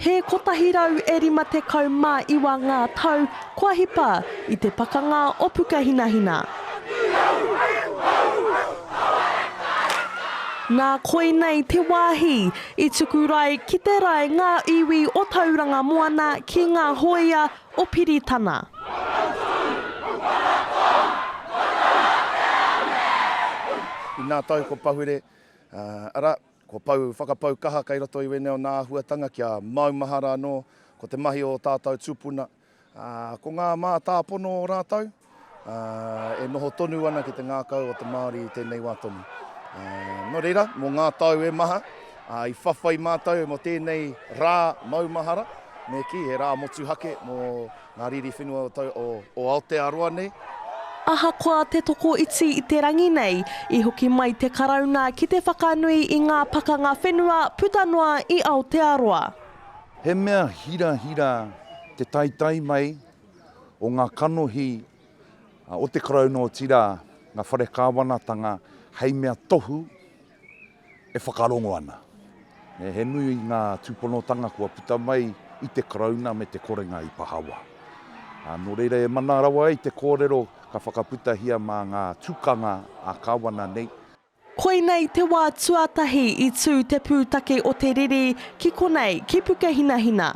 He kotahi rau e rima tekau mā iwa ngā tau kua hipa i te pakanga o Pukahinahina. Nā koinei te wāhi i tuku rae ki te rae ngā iwi o Tauranga Moana ki ngā hōia o Piritana. Inā tau ko Pahure, arā, ko Pou whakapau kaha kei roto i wēnei o nā āhuatanga kia maumahara anō ko te mahi o ō tātau tūpuna, ā, ko ngā mātāpono o rātau. e noho tonu ana ki te ngākau o te Māori i tēnei wā tonu. Nō reira, mō ngā tau e maha, i whawhai mātou mō tēnei rā maumahara, me kī, he rā motuhake mō ngā riri whenua o Aotearoa nei. Ahakoa te tokoiti i te rangi nei, i hoki mai te Karauna ki te whakanui i ngā pakanga whenua puta noa i Aotearoa. He mea hirahira te taetae mai o ngā kanohi o te Karauna otirā ngā whare kāwanatanga hei mea tohu e whakarongo ana. He nui ngā tūponotanga kua puta mai i te Karauna me te korenga i pahawa. Nō reira e mana rawa ai te kōrero ka whakaputahia mā ngā tukanga ā-kāwana nei, Koinei te wā tuatahi i tū te pūtake o te riri ki konei ki Pukehinahina.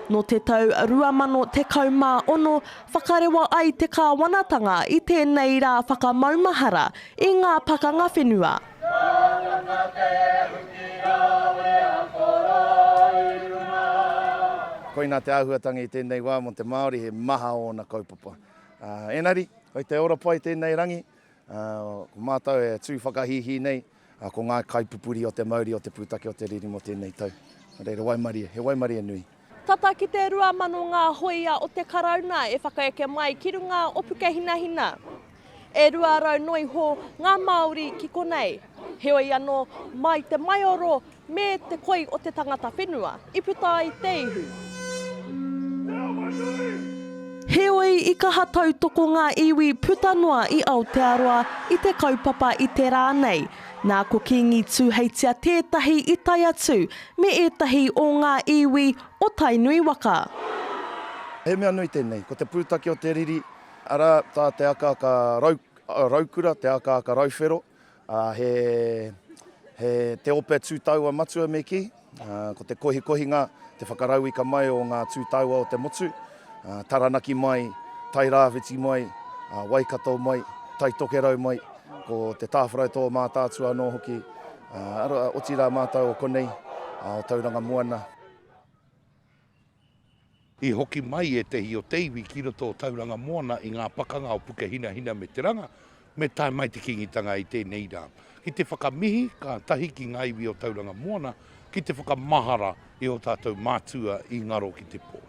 Nō te tau 2016, whakarewa ai te kāwanatanga i tēnei rā whakamaumahara i ngā pakanga whenua. Koinā te āhuatanga i tēnei wā mō te Māori he maha ōna kaupapa. Engari, kei te ora pai tēnei rangi, Ko mātou e tū whakahīhī nei, ko ngā kaipupuri o te mauri o te pūtake o te riri mō tēnei tau. Nō reira, waimarie, he waimarie nui. Tata ki te 2,000 ngā hōia o te Karauna e whakaeke mai ki runga o Pukehinahina. E 200 noiho ngā Māori ki konei. Heoi anō, mai te maioro Me te koi o te tangata whenua i puta ai te ihu. Te awa nui! Heoi, i kaha tautoko ngā iwi puta noa i Aotearoa i te kaupapa i te rā nei. Nā ko Kīngi Tūheitia tētahi i tae atu me ētahi o ngā iwi o Tainui waka. He mea nui tēnei, ko te pūtake o te riri, arā tā te akaaka raukura, te akaaka rauwhero, Ā, he, he te ope tū taua matua me kī, ā, ko te kohikohinga, te whakarauika mai o ngā tū taua o te motu, ā, Taranaki mai, Tairāwhiti mai, ā, Waikato mai, Taitokerau mai, ko te tāwharau tō Mātaatua anō hoki, ā, arā, otirā mātou o konei, ā, o Tauranga Moana. I hoki mai ētehi o te iwi ki roto o Tauranga Moana i ngā pakanga o Pukehinahina me Te Ranga, me tae mai te Kīngitanga i tēnei rā. Ki te whakamihi kātahi ki ngā iwi o Tauranga Moana ki te whakamahara i ō tātou mātua i ngaro ki te pō.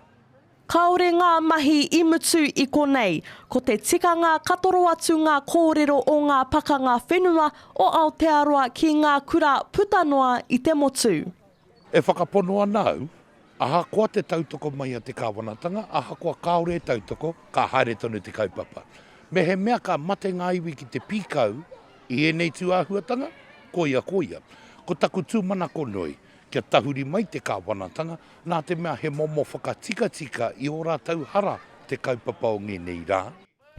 Kāore ngā mahi i mutu i konei, ko te tikanga ka toro atu ngā kōrero o ngā pakanga whenua o Aotearoa ki ngā kura puta noa i te motu. E whakapono ana au, ahakoa te tautoko mai a te Kāwanatanga, ahakoa kāore e tautoko, ka haere tonu te kaupapa. Mehemea ka mate ngā iwi ki te pīkau i ēnei tū āhuatanga, koia ko ia. Ko taku tūmanako nui, kia tahuri mai te Kāwanatanga, nā te mea he momo whakatikatika i ō rātou hara te kaupapa o ngēnei rā,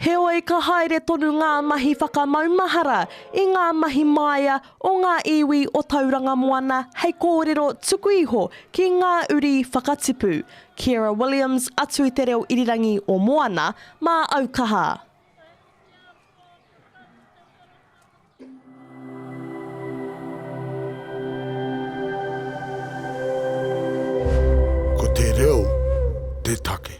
Heoi ka haere tonu ngā mahi whakamaumahara i ngā mahi māia o ngā iwi o Tauranga Moana hei kōrero tuku iho ki ngā uri whakatipu. Kiera Williams atu i te reo irirangi o Moana, mā au kaha. Ko te reo te take.